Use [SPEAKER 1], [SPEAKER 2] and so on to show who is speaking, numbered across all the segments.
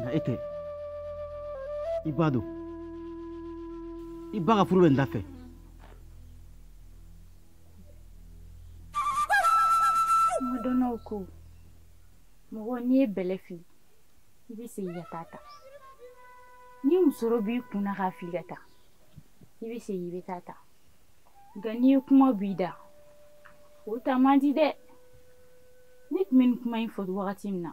[SPEAKER 1] nka e tɛ i ba dɔn i ba ka furu bɛ n da fɛ
[SPEAKER 2] kuma dɔnnaw ko mɔgɔ n'i ye bɛlɛ fili i bɛ segin ka taa ta ni musɔrɔ b'i kun na k'a fili ka taa i bɛ segin i bɛ taa ta nka n'i ye kuma b'i da o ta man di dɛ ne tun bɛ nin kuma in fɔ wagati min na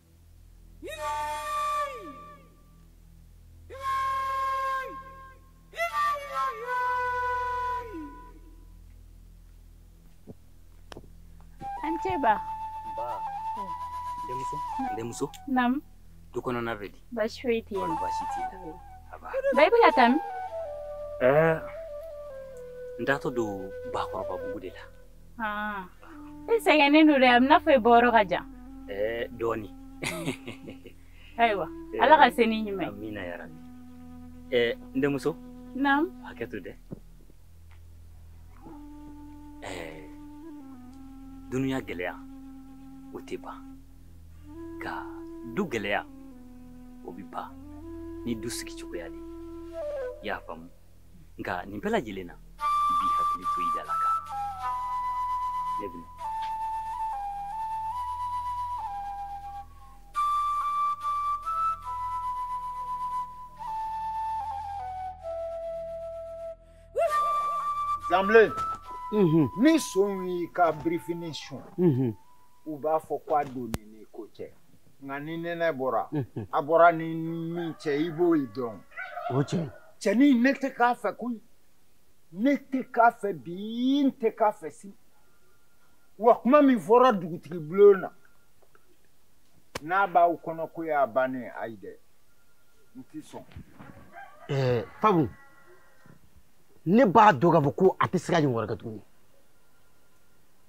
[SPEAKER 2] An ce ba.
[SPEAKER 3] Ba. Denmuso. Denmuso.
[SPEAKER 2] Nam. Du kɔnɔna
[SPEAKER 3] bɛ di. Baasi foyi tɛ.
[SPEAKER 2] Baasi
[SPEAKER 3] t'i la. Ba i bɛ ka taa min?
[SPEAKER 2] Ɛɛ
[SPEAKER 3] n taatɔ don Bakɔrɔbabugu de la.
[SPEAKER 2] e sɛgɛnnen don dɛ a bɛna fɔ i bɔyɔrɔ ka jan dɔɔni ayiwa ala ka se ni ɲuman ye amina ya rabi
[SPEAKER 3] n denmuso naamu
[SPEAKER 2] hakɛ to dɛ
[SPEAKER 3] dunuya gɛlɛya o tɛ ban nka du gɛlɛya o bɛ ban ni du sigi cogoya de ye i y'a faamu nka nin bɛɛ lajɛlen na i b'i hakili to i dalakan na bi
[SPEAKER 4] zanbilen mhm. ni son y'i ka birifini sun mhm. u b'a fɔ ko a donni ni ko cɛ nka ni nɛnɛ bɔra mhm. a bɔra ni min cɛ i b'o dɔn o cɛ
[SPEAKER 1] cɛnin ne tɛ
[SPEAKER 4] k'a fɛ koyi ne tɛ k'a fɛ bi n tɛ k'a fɛ sini wa kuma min fɔra dugutigi bulon na n'a b'aw kɔnɔ ko a bannen ayi dɛ n tɛ sɔn. ɛɛ
[SPEAKER 1] fabu ne b'a dɔn k'a fɔ ko a tɛ se k'a ɲɔgɔn wɛrɛ kɛ
[SPEAKER 4] tuguni.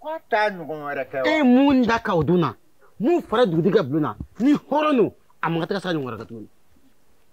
[SPEAKER 4] ko a t'a ɲɔgɔn wɛrɛ kɛ wa. e mun da ka o
[SPEAKER 1] dun
[SPEAKER 4] na
[SPEAKER 1] mun fɔra dugutigi ka bulon na ni hɔrɔn don a man kan tɛ ka se k'a ɲɔgɔn wɛrɛ kɛ tuguni.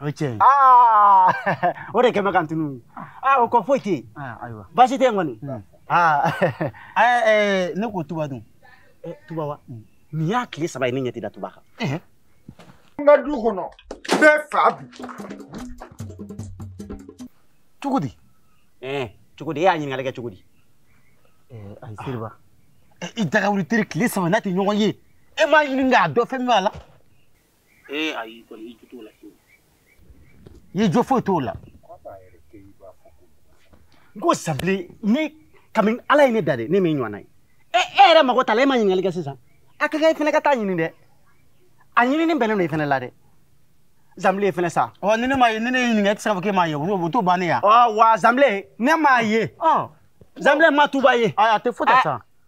[SPEAKER 5] o ye tiɲɛ
[SPEAKER 1] ye
[SPEAKER 5] aa o de kɛ mankan tunu aa o kɔ foyi tɛ yen ayiwa baasi tɛ
[SPEAKER 1] yen
[SPEAKER 5] kɔni aa
[SPEAKER 1] ɛɛ ne ko tuba dun tuba wa
[SPEAKER 5] nin y'a tile saba ye ne ɲɛ tɛ da tuba kan n
[SPEAKER 4] ka du kɔnɔ n bɛ fa
[SPEAKER 1] bi cogo di ɛɛ
[SPEAKER 5] cogo di e y'a ɲininkali kɛ cogo
[SPEAKER 1] di ayi seriba i dagawuli teri tile saba n'a tɛ ɲɔgɔn ye e m'a ɲini k'a dɔn fɛn min b'a la
[SPEAKER 5] ee ayi kɔni i jo t'o
[SPEAKER 1] la fiyewu i jo foyi t'o
[SPEAKER 5] la n ko zanbilen ne kabini ala ye ne da de ne m'e ɲɔgɔnna ye e e yɛrɛ mago t'a la e ma ɲininkali kɛ sisan a ka kan i fana ka taa ɲini dɛ a ɲinini bɛnnen don i fana la dɛ zanbilen fana sa. ɔ ni ne m'a ye ni ne y'i
[SPEAKER 1] ɲininka e tɛ se k'a fɔ k'e m'a ye o t'o bannen ye wa. ɔ wa zanbilen
[SPEAKER 5] ne m'a ye. ɔ zanbilen ma tuba ye. ayi a tɛ foyi kɛ sa.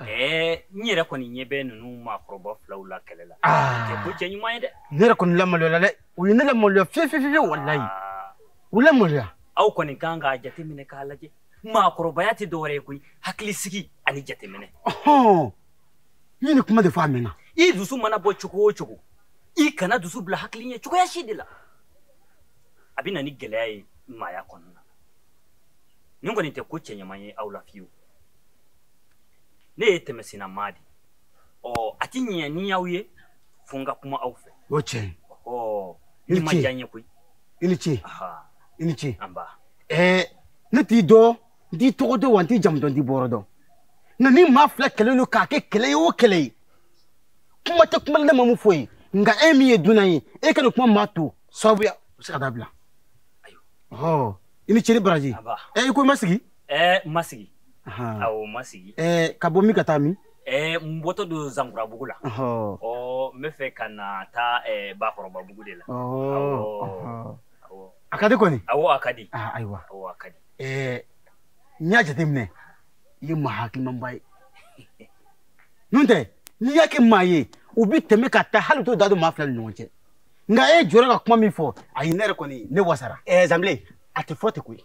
[SPEAKER 3] ɛɛ n yɛrɛ kɔni ɲɛ bɛ ninnu maakɔrɔba filaw la kɛlɛ la tɛ ko cɛɲuman ye dɛ ne yɛrɛ
[SPEAKER 1] kɔni lamaloyala dɛ u ye ne lamaloya fiye fiye fiye walayi u lamaloya aw
[SPEAKER 3] kɔni kan k'a jateminɛ k'a lajɛ maakɔrɔbaya tɛ dɔwɛrɛ ye koyi hakilisigi ani jateminɛ
[SPEAKER 1] ɔhɔn i ye nin kuma de fɔ a mɛnna i dusu mana
[SPEAKER 3] bɔ cogo o cogo i kana dusu bila hakili ɲɛ cogoya si de la a bɛ na ni gɛlɛya ye maaya kɔnɔna na nin kɔni tɛ ko cɛɲuman ye aw la fiyewu ne ye tɛmɛsenna maa de ye ɔ a ti ɲɛ ni n y'aw ye fo n ka kuma aw fɛ o tiɲɛ ɔ nin
[SPEAKER 1] ma
[SPEAKER 3] diya n ye koyi i ni ce
[SPEAKER 1] i ni ce anba ɛɛ
[SPEAKER 3] ne
[SPEAKER 1] t'i dɔn n t'i tɔgɔ dɔn wa n t'i jamu dɔn n t'i bɔyɔrɔ dɔn nka ni maa fila kɛlɛ don k'a kɛ kɛlɛ ye o kɛlɛ ye kuma tɛ kuma ne ma mun fɔ ye nka e min ye dunan ye e ka nin kuma maa to sababuya o bɛ se ka dabila ayiwa ɔ i ni ce ni baraji ɛ i ko i ma sigi ɛɛ n ma
[SPEAKER 3] sigi awɔ n ma sigi ɛɛ ka bɔ min ka
[SPEAKER 1] taa min ɛɛ n bɔtɔ
[SPEAKER 3] don zankurabugu la ɔ n bɛ fɛ ka na taa ɛɛ bakɔrɔbabugu de la awɔ
[SPEAKER 1] a ka di kɔni awɔ a ka di ayiwa
[SPEAKER 3] awɔ a ka di
[SPEAKER 1] ɛɛ n y'a jateminɛ i ye maa hakilimanba ye n'o tɛ n'i y'a kɛ maa ye u bɛ tɛmɛ ka taa hali u t'u da don maa fila ni ɲɔgɔn cɛ nka e jɔra ka kuma min fɔ ayi ne yɛrɛ kɔni ne wasara ɛɛ zanbilen a tɛ
[SPEAKER 5] fɔ ten koyi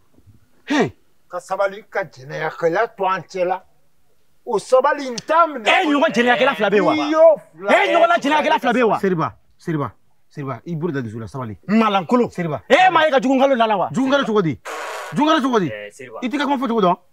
[SPEAKER 4] ka sabali ka jɛnɛyakɛla to an cɛ la o sabali n t'a minɛ. e ɲɔgɔn jɛnɛyakɛla fila bɛ
[SPEAKER 5] yen wa. n'i y'o fila e ɲɔgɔnna jɛnɛyakɛla fila bɛ yen wa. seriba seriba seriba i
[SPEAKER 1] bolo da dusu la sabali. malankolon
[SPEAKER 5] seriba. e maa ye ka
[SPEAKER 1] jugu
[SPEAKER 5] nkalon la a la wa. jugu nkalon cogo di
[SPEAKER 1] jugu nkalon cogo di
[SPEAKER 3] i t'i ka kuma fɔcogo
[SPEAKER 1] dɔn.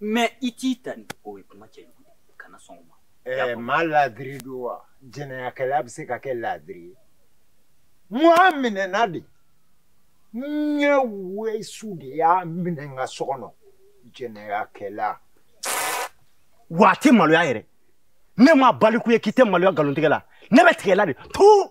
[SPEAKER 3] mɛ i t'i ta ni o ye kuma cɛjugu ye kana sɔn o ma ɛɛ maa laadiri
[SPEAKER 4] don wa jɛnɛyakɛla bɛ se ka kɛ laadiri ye mɔgɔ minɛna de n ye wesu de y'a minɛ n ka so kɔnɔ
[SPEAKER 5] jɛnɛyakɛla wa a tɛ maloya yɛrɛ ne ma baliku ye k'i tɛ maloya nkalontigɛla ne bɛ tigɛ la de tuu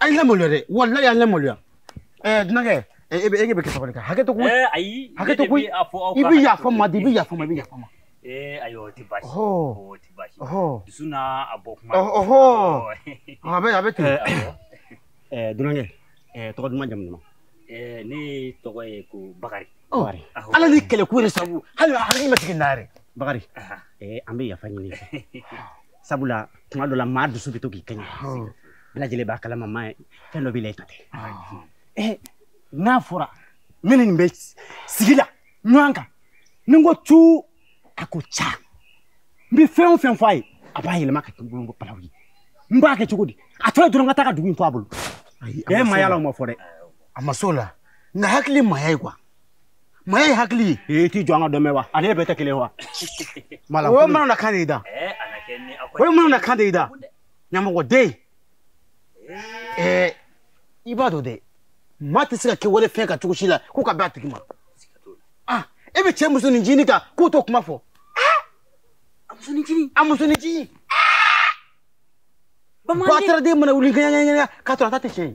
[SPEAKER 1] a ye n lamaloya dɛ walayi a ye n lamaloya ɛɛ dunankɛ e bɛ e bɛ kɛ sabali kan hakɛ to koyi ayi hakɛ to koyi i bɛ yafa n ma de i bɛ yafa n ma i bɛ yafa n ma. ee ayi o tɛ
[SPEAKER 3] baasi o tɛ baasi dusu n'a a bɔ
[SPEAKER 1] kuma. a bɛ a bɛ ten ɛɛ
[SPEAKER 5] dunankɛ ɛɛ tɔgɔ duman jamu duman. ɛɛ
[SPEAKER 3] ne tɔgɔ ye ko bakari. ala ni
[SPEAKER 1] kɛlɛko de sabu hali hakili ma sigi n'a yɛrɛ bakari
[SPEAKER 5] ɛɛ an bɛ yafa ɲini sabula tuma dɔ la maa dusu bɛ to k'i kɛɲɛ bɛɛ lajɛlen b'a kalama maa fɛn dɔ b'i la i ta tɛ eh, n'a fɔra ne ni nin bɛ sigi la ɲɔgɔn kan ni n ko tu a ko ca n bɛ fɛn o fɛn fɔ a ye a b'a yɛlɛma ka kɛ n bolo balawu ye n b'a kɛ cogo di a tɔ ye dɔrɔn ka taa ka dugu in to a bolo e maaya la o ma fɔ dɛ a ma s'o la
[SPEAKER 1] nka hakili maaya ye kuwa maaya ye hakili ye i t'i jɔ an ka dɔ mɛn wa
[SPEAKER 5] ani e bɛɛ tɛ kelen wa o
[SPEAKER 1] ye manamanakan de ye i da o ye manamanakan de ye i da ɲamɔgɔden ɛɛ i b'a dɔn dɛ maa tɛ se ka kɛ wali fɛn kan cogo si la ko ka bɛn a tigi ma ah e bɛ cɛ musonin ncinin kan k'o t'o kuma fɔ a musonin ncinin a musonin ncinin bataraden mana wuli ŋɛɲɛŋɛɲɛ k'a sɔrɔ a ta tɛ tiɲɛ ye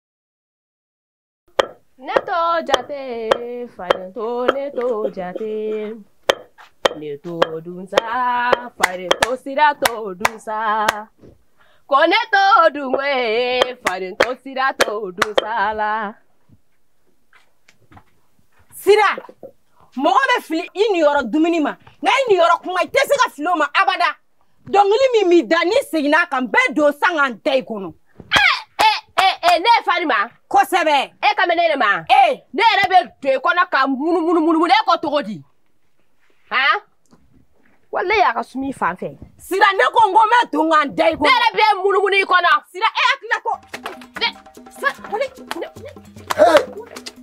[SPEAKER 6] neto jate faden to neto jate neto dunsa faden to sira to dunsa ko neto dunwe faden to sira to dunsa la sira mɔgɔ bɛ fili i niyɔrɔ dumuni ma nka i niyɔrɔ kuma i tɛ se ka fili o ma abada dɔnkili min b'i da n'i seginna a kan n bɛ don sa ka n da i kɔnɔ. ne ye farinman. kosɛbɛ. e kan bɛ ne de ma. ee ne yɛrɛ bɛ don i kɔnɔ ka munumunu munumunu e ko cogo di. han walayi a ka sumi fan fɛ. sira ne ko n ko n bɛ don ka n da i kɔnɔ. ne yɛrɛ bɛ munumunu i kɔnɔ. sira e hakilila ko. ne sa ne ne.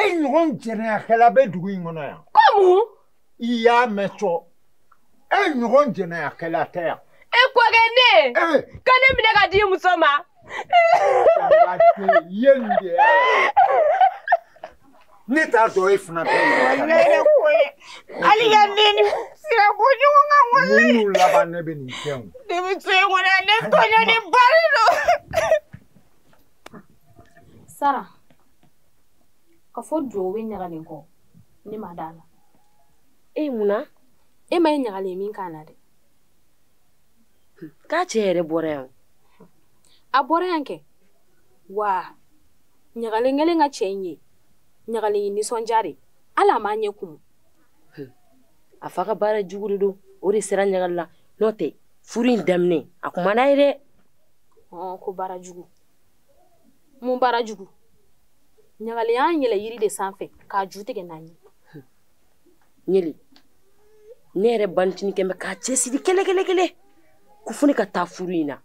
[SPEAKER 4] e ɲɔgɔn jɛnɛyakɛla bɛ dugu in kɔnɔ yan kɔmu
[SPEAKER 6] i y'a
[SPEAKER 4] mɛn cɔ e ɲɔgɔn jɛnɛyakɛla tɛ yan e kɔkɛ ne
[SPEAKER 6] eh. ka ne minɛ ka di muso ma
[SPEAKER 4] ye nin de ye ne t'a dɔn e fana bɛ yen hali
[SPEAKER 6] ka ne ni sira bɔ ɲɔgɔn kan wale minnu laban ne bɛ
[SPEAKER 4] nin kɛ o ne bɛ to yen kɔnɔ
[SPEAKER 6] ne tɔɲɔ ni bari don
[SPEAKER 2] sara ka fɔ duwawu bɛ ɲagalen kɔ ne ma d'a la e
[SPEAKER 6] ye mun na e ma
[SPEAKER 2] ye ɲagalen min ka na dɛ
[SPEAKER 6] k'a cɛ yɛrɛ bɔra yan a
[SPEAKER 2] bɔra yan kɛ wa ɲagalen kɛlen ka cɛ in ye ɲagalen nisɔndiyara hali a m'a ɲɛ
[SPEAKER 6] kumu a fa ka baara jugu de don o de sera ɲagalen la n'o tɛ furu in daminɛ a tun man d'a ye dɛ
[SPEAKER 2] ko baara jugu mun baara jugu ɲagalen y'a yɛlɛ yiri de sanfɛ k'a ju tigɛ n'a
[SPEAKER 6] ye ɲele ne yɛrɛ banicini tun bɛ k'a cɛsiri kɛlɛkɛlɛkɛlɛ ko fo ne ka taa furu in na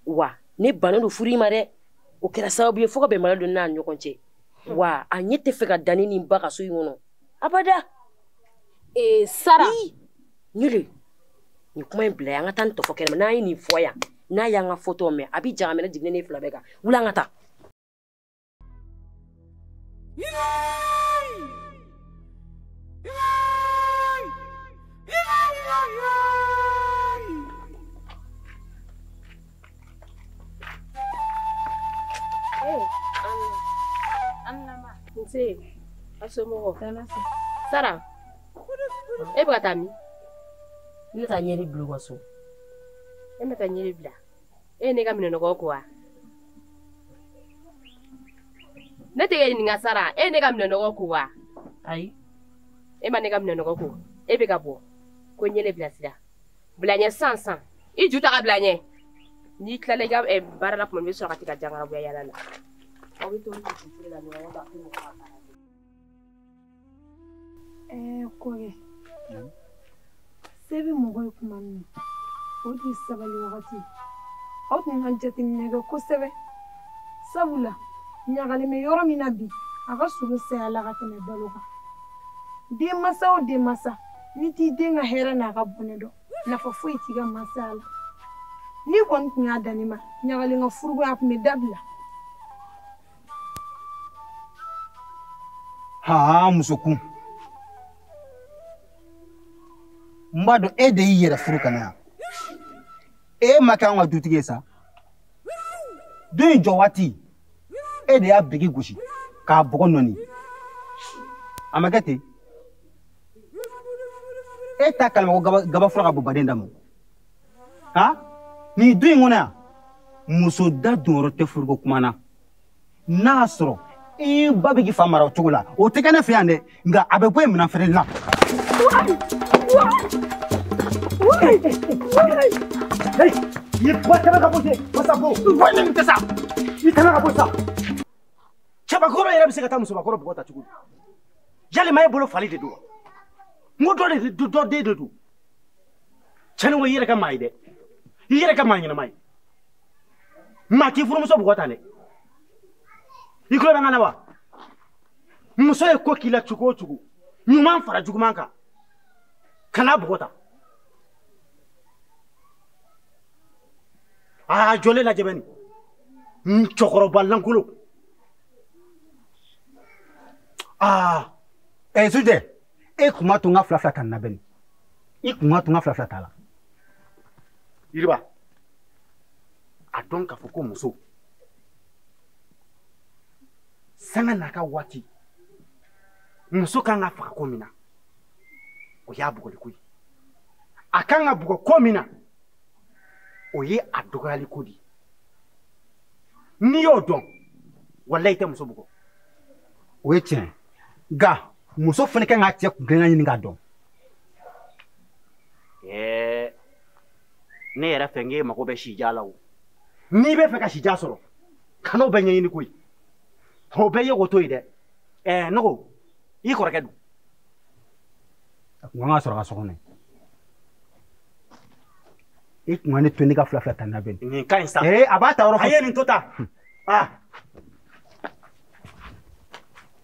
[SPEAKER 6] wa ne bannen don furu in ma dɛ o kɛra sababu ye fo ka bɛnbaliya don n'a ɲɔgɔn cɛ wa a ɲɛ t'a fɛ ka da ne ni n ba kan so in kɔnɔ abada ee
[SPEAKER 2] sara
[SPEAKER 6] ɲele nin kuma in bila yan an ka taa nin tɔ fɔ kɛnɛma n'an ye nin fɔ yan n'a y'an ka fɔtɔ mɛn a bi jahanama jigin e ni ne fila bɛɛ kan wuli an ka
[SPEAKER 2] taa Nse,
[SPEAKER 6] a somɔgɔ. Sara. e bɛ ka taa min ne bɛ taa ɲele bila u ka so e bɛ taa ɲele bila e ye ne ka minɛnɔgɔ ko wa ne tɛ k'e ɲininka sara e ye ne ka minɛnɔgɔ ko wa ayi e ma ne ka minɛnɔgɔ ko e bɛ ka bɔ ko ɲele bilasira bila ɲɛ sisan i ju ta ka bila ɲɛ n'i tilala i ka eh, baara la tuma min i bɛ sɔrɔ ka taa jangarabuya yaala la aw bɛ to la ɲɔgɔn kan
[SPEAKER 7] ɛɛ kɔrɛ se bɛ mɔgɔ ye tuma min na o de ye sabali wagati aw tun ka jateminɛ kɛ kosɛbɛ sabula ɲagalen bɛ yɔrɔ min na bi a ka surun saya la ka tɛmɛ balo kan denmansa o denmansa n'i t'i den ka hɛrɛ n'a ka bɔnɛ dɔn nafa foyi t'i ka masaya la n'i kɔni tun y'a dan ne ma ɲagalen ka furuko in a tun bɛ dabila
[SPEAKER 1] haa musokun n b'a dɔn e de y'i yɛrɛ furu ka na yan e ma kɛ an ka dutigi ye sa du in jɔ waati e de y'a biriki gosi k'a bɔgɔ nɔɔni a ma kɛ ten e t'a kalama ko gaba fura ka bɔ baden dama ha nin du in kɔnɔ yan muso da donyɔrɔ tɛ furuko kuma na n'a y'a sɔrɔ i
[SPEAKER 5] ba bɛ k'i fa mara o cogo la o tɛ kɛ ne fɛ yan dɛ nka a bɛ bɔ yen minɛn feereli la. i
[SPEAKER 1] ba tɛmɛ ka bɔ ten masako wa ne tɛ sa i tɛmɛ ka bɔ sa cɛbakɔrɔ yɛrɛ bɛ se ka taa musobakɔrɔ bugɔ tan cogo di yalima e bolo fali de don wa n ko dɔ de dɔ den de don cɛni ko i yɛrɛ kɛ maa ye dɛ i yɛrɛ kɛ maa ɲɛnama ye maa t'i furumuso bugɔ tan dɛ i tulo bɛ n kan na wa muso ye ko k'i la cogo o cogo ɲuman fara juguman kan kan'a bugɔ tan aa jɔlen lajɛ bani n cɛkɔrɔba lankolon
[SPEAKER 5] aa ɛ sujɛ e kun b'a to n ka fila fila ta nin na bani i kun b'a to n ka fila fila t'a
[SPEAKER 1] la yiriba a dɔn k'a fɔ ko muso sanga n'a ka waati muso kan ka faga ko min na o y'a bugɔliko ye a kan ka bugɔ ko min na o ye a dɔgɔyaliko de ye n'i y'o dɔn walayi i tɛ muso bugɔ o ye
[SPEAKER 5] tiɲɛ nka muso fana kan k'a cɛ kunkilenna ɲini k'a dɔn
[SPEAKER 1] ɛɛ ne yɛrɛ fɛ n k'e mago bɛ sijan la o n'i bɛ fɛ ka sijan sɔrɔ kan'o bɛɛ ɲɛɲini koyi o bɛɛ ye k'o to yen dɛ ɛɛ ne ko i kɔrɔkɛ
[SPEAKER 5] dun a kun kan ka sɔrɔ ka so kɔnɔ i kun ka ne to ne ka fila fila ta nin na bani nin ka ɲi sa ee a b'a
[SPEAKER 1] taayɔrɔ fɔ a ye nin
[SPEAKER 5] to tan aa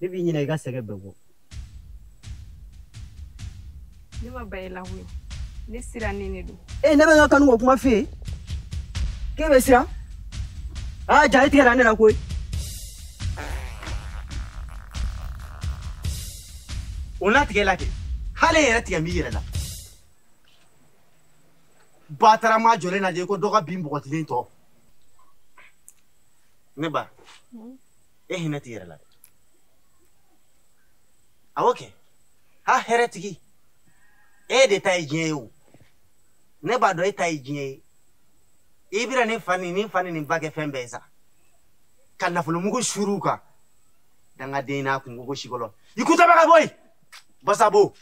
[SPEAKER 5] ne b'i ɲina i ka sɛgɛn bɛɛ
[SPEAKER 7] bɔ ne ma ban i la koyi ne sirannen de don e ne bɛ n ka kanuko kuma
[SPEAKER 5] f'i ye k'e bɛ siran aa jaa i tigɛra ne la koyi
[SPEAKER 1] o n'a tigɛ la kɛ hali e yɛrɛ tigɛ b'i yɛrɛ la batarama jɔlen lajɛ ko dɔ ka bin bɔgɔtilen tɔ ne ba e hinɛ t'i yɛrɛ la dɛ awɔ kɛ ha hɛrɛ tigi e de ta ye diɲɛ ye o ne b'a dɔn e ta ye diɲɛ ye i bɛna nin fa ni nin fa ni nin ba kɛ fɛn bɛɛ ye sa ka nafolomugu suuru u kan dangaden n'a kunkolo sikolo i kutaba ka bɔ yen basabo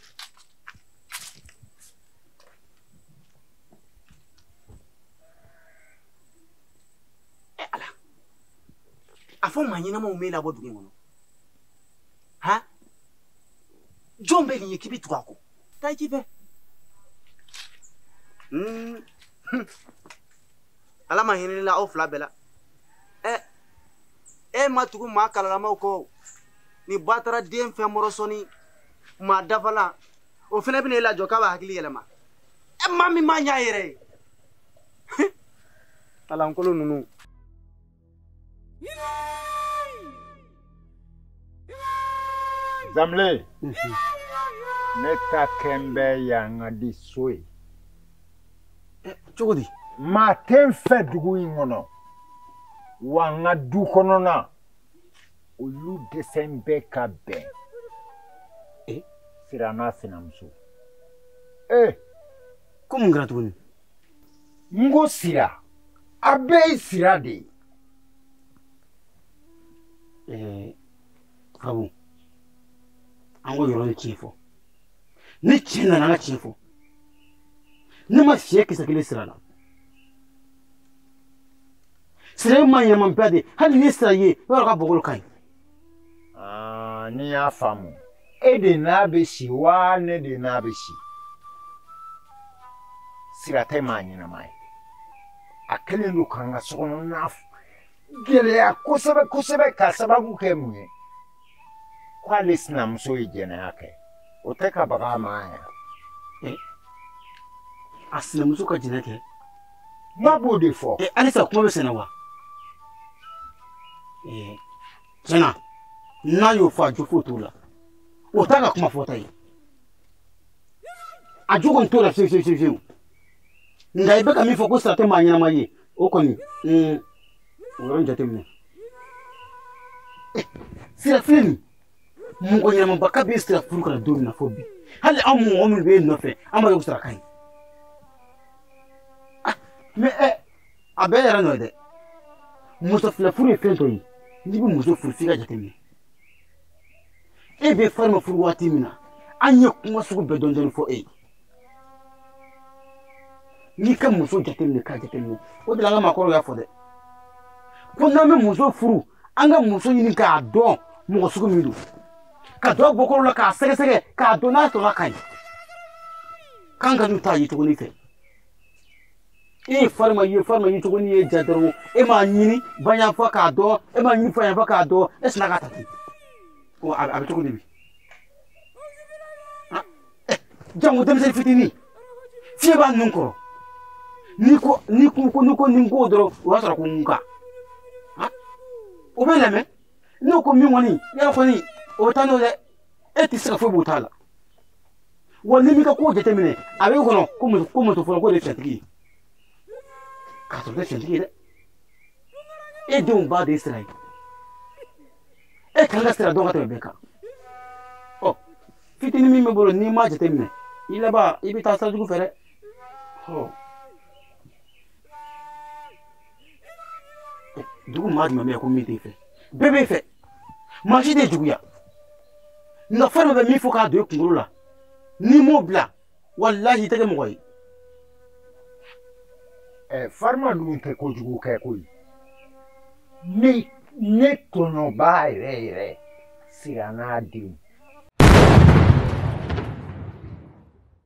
[SPEAKER 1] a fɔ maa ɲɛnamaw m'e labɔ dugu in kɔnɔ ha jɔn bɛ nin ye k'i bɛ tugu a kɔ taa i ci fɛ ala ma hinɛ la aw fila bɛɛ la ɛ e ma tugu maa kalalamaw kɔ ni ba taara den fɛ mɔrɔ sɔni maa dafalan o fana bɛna e lajɔ k'a ba hakili yɛlɛma ɛ maa min ma ɲɛ a yɛrɛ ye kalankolon ninnu
[SPEAKER 4] zamle ne ta kɛn bɛ yan ka di so ye
[SPEAKER 1] cogo di maa tɛ n
[SPEAKER 4] fɛ dugu in kɔnɔ wa n ka du kɔnɔna olu dɛsɛn bɛ ka bɛn sira n'a sinamuso ee
[SPEAKER 5] ko mun kɛra tuguni
[SPEAKER 4] n ko sira a bɛɛ ye sira de ye. ɛɛ sabu
[SPEAKER 5] an k'o yɔrɔ nin tiɲɛ fɔ ni tiɲɛ nana an ka tiɲɛ fɔ ne ma fiɲɛ kisɛ kelen sira la sira ye maa ɲɛnamaba de ye hali n'i sira ye i b'a dɔn k'a bɔkolo ka ɲi. Ah, n'i
[SPEAKER 4] y'a faamu e de n'a bɛ si wa ne de n'a bɛ si sira tɛ maa ɲɛnama ye a kɛlen don k'an ka sokɔnɔna gɛlɛya kosɛbɛ kosɛbɛ ka sababu kɛ mun ye k'ale sinamuso ye jɛnɛya kɛ o tɛ ka baga a ma yan
[SPEAKER 5] a sinamuso ka jɛnɛ kɛ N b'a
[SPEAKER 4] b'o de fɔ. Ɛ halisa kuma bɛ senna
[SPEAKER 5] wa? Ɛ tiɲɛ na n'a y'o fɔ a jo foyi t'o la o t'a ka kuma fɔta ye a jo kɔni t'o la fiyewu fiyewu fiyewu nka i bɛ ka min fɔ ko sira tɛ maa ɲɛnama ye o kɔni o yɔrɔ in jateminɛ sira filɛ nin mɔgɔ ɲɛnamaba kabi sira furu ka na don min na fo bi hali anw mɔgɔ minnu bɛ yen nɔfɛ an b'a ye ko sira ka ɲi ah, mɛ ɛ eh, a bɛɛ yɛrɛ nɔ ye dɛ muso fila furu ye fɛn dɔ ye n'i bɛ muso furu f'i ka jateminɛ e bɛ farima furu waati min na an ye kuma sugu bɛɛ dɔɔni dɔɔni fɔ e ye n'i ka muso jateminɛ k'a jateminɛ o de la an ka maakɔrɔw y'a fɔ dɛ ko n'an bɛ muso furu an ka muso ɲini k'a dɔn mɔgɔ sugu min don ka don bɔkolo la k'a sɛgɛsɛgɛ k'a dɔn n'a sɔrɔ a ka ɲi k'an kan'u ta yecogo nin fɛ e ye farima ye farima yecogo nin y'e ja dɔrɔn e m'a ɲini ba yanfan k'a dɔn e m'a ɲini fa yanfan k'a dɔn e sinna k'a ta ten a bɛ cogo di bi jango denmisɛnnin fitinin fiɲɛ b'a nun kɔrɔ n'i ko n'i ko ko n'i ko ni n ko dɔrɔn o y'a sɔrɔ ko nka o b'i lamɛn n'o ko min kɔni i y'a fɔ ni o bɛ taa n'o dɛ e tɛ se ka foyi b'o ta la wa n'i m'i ka kow jateminɛ a b'i kɔnɔ ko muso ko muso fɔlɔ ko de ye fɛntigi ye k'a sɔrɔ tɛ fɛntigi ye dɛ e denw ba de sira ye e kan ka sira dɔn ka tɛmɛ bɛɛ kan fitinin min b'i bolo n'i m'a jateminɛ i laban i bɛ taa sira jugu fɛ dɛ dugu maa jumɛn bɛ yan ko min t'i fɛ bɛɛ b'i fɛ maa si tɛ juguya nka fɛn dɔ bɛ min fɔ k'a don i kunkolo la n'i m'o bila walahi i tɛ kɛ mɔgɔ ye ɛ farima dun tɛ
[SPEAKER 4] kojugu kɛ koyi ne ne tɔɲɔba yɛrɛ yɛrɛ siranna a denw